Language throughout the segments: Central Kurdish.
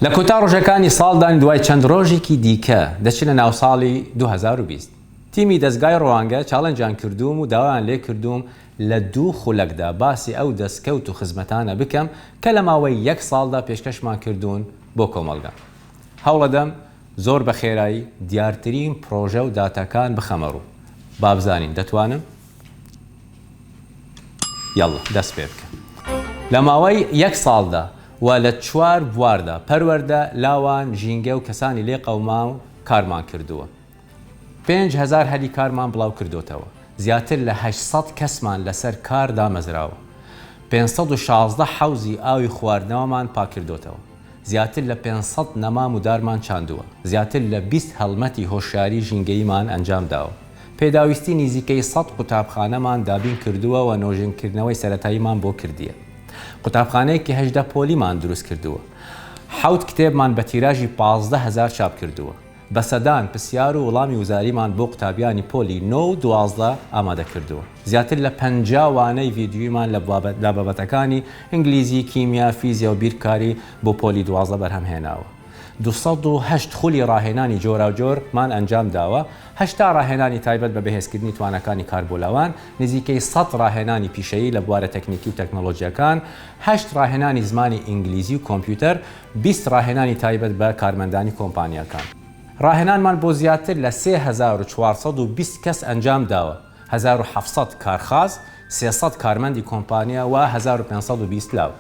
لە کۆتا ڕۆژەکانی ساڵدان دوای چەند ڕۆژێکی دیکە دەچنە ناو ساڵی دوو هەزار و بیست. تیمی دەزگای ڕوانگە چاڵێنجیان کردووم و داوایان لێ کردووم لە دوو خولەکدا باسی ئەو دەستکەوت و خزمەتانە بکەم کە لە ماوەی یەک ساڵدا پێشکەشمان کردوون بۆ کۆمەڵگە. هەوڵەدەم زۆر بە خێرایی دیارترین پڕۆژە و داتاکان بخەمە ڕوو. بابزانین دەتوانم؟ یەڵڵە دەست پێ بکە. لە ماوەی یەک ساڵدا و لە چوار بواردا، پەروەردە، لاوان، ژینگە و کەسانی لێ قەوماو، کارمان کردووە. پێنج هەزار هەلی کارمان بڵاو کردۆتەوە. زیاتر لە هەشت سەد کەسمان لەسەر کار دامەزراوە. پێنج سەد و شازدە حەوزی ئاوی خواردنەوەمان پاککردۆتەوە. زیاتر لە پێنج سەد نەمام و دارمان چاندووە، زیاتر لە بیست هەڵمەتی هۆشیاری ژینگەییمان ئەنجام داوە، پێداویستی نیزیکەی سەد قوتابخانەمان دابین کردووە و نۆژەنکردنەوەی سەرەتاییمان بۆ کردیە. قوتابخانەیەکی هەژدە پۆلیمان دروست کردووە. حەوت کتێبمان بە تیراژی پازدە هەزار چاپ کردووە. بە سەدان پرسیار و وڵامی وزاریمان بۆ قوتابیانی پۆلی نۆ و دوازدە ئامادە کردووە. زیاتر لە پەنجا وانەی ڤیدیویمان لە بابەتەکانی، ئینگلیزی، کیمیا، فیزیا و بیرکاری، بۆ پۆلی دوازدە بەرهەم هێناوە. دوو سەد و هەشت خولی ڕاهێنانی جۆراوجۆر مان ئەنجام داوە، هەشتا ڕاهێنانی تایبەت بە بەهێزکردنی تواناکانی کاربۆلاوان، نزیکەی سەد ڕاهێنانی پیشەیی لە بوارە تەکنیکی و تەکنۆلۆژییەکان، هەشت ڕاهێنانی زمانی ئینگلیزی و کۆمپیوتەر، بیست ڕاهێنانی تایبەت بە کارمەندانی کۆمپانیاکان. ڕاهێنانمان بۆ زیاتر لە سێ هەزار و چوار سەد و بیست کەس ئەنجام داوە، هەزار و حەفت سەد کارخاز، سێ سەد کارمەندی کۆمپانیا و هەزار و پێنج سەد و بیست لاو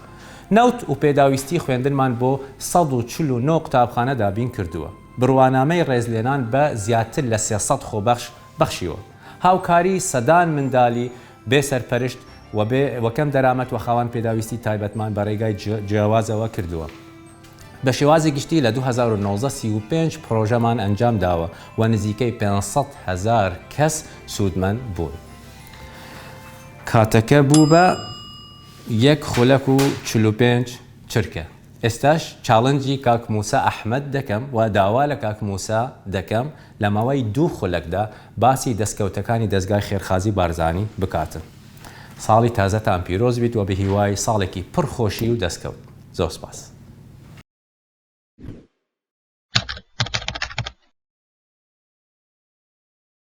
نەوت و پێداویستی خوێندنمان بۆ سەد و چل و نۆ قوتابخانە دابین کردووە، بڕوانامەی ڕێزلێنان بە زیاتر لە سێ سەد خۆبەخش بەخشیوە، هاوکاری سەدان مندالی بێ سەرپەرشت و بێ و کەم دەرامەت و خاوەن پێداویستی تایبەتمان بە رێگای جیاوازەوە کردووە. بە شێوازی گشتی لە دوو هەزار و نۆزدە سی و پێنج پرۆژەمان ئەنجام داوە و نزیکەی پێنج سەد هەزار کەس سوودمەند بوون. کاتەکە بوو بە یەک خولەک و چل و پێنج چرکە. ئێستاش چاڵنجی کاک مووسا ئەحمەد دەکەم و داوا لە کاک مووسا دەکەم، لە ماوەی دوو خولەکدا باسی دەستکەوتەکانی دەزگای خێرخازی بارزانی بکاتن ساڵی تازەتان پیرۆز بیت وە بەهیوای ساڵێکی پڕ خۆشی و دەستکەوت زۆر سپاس.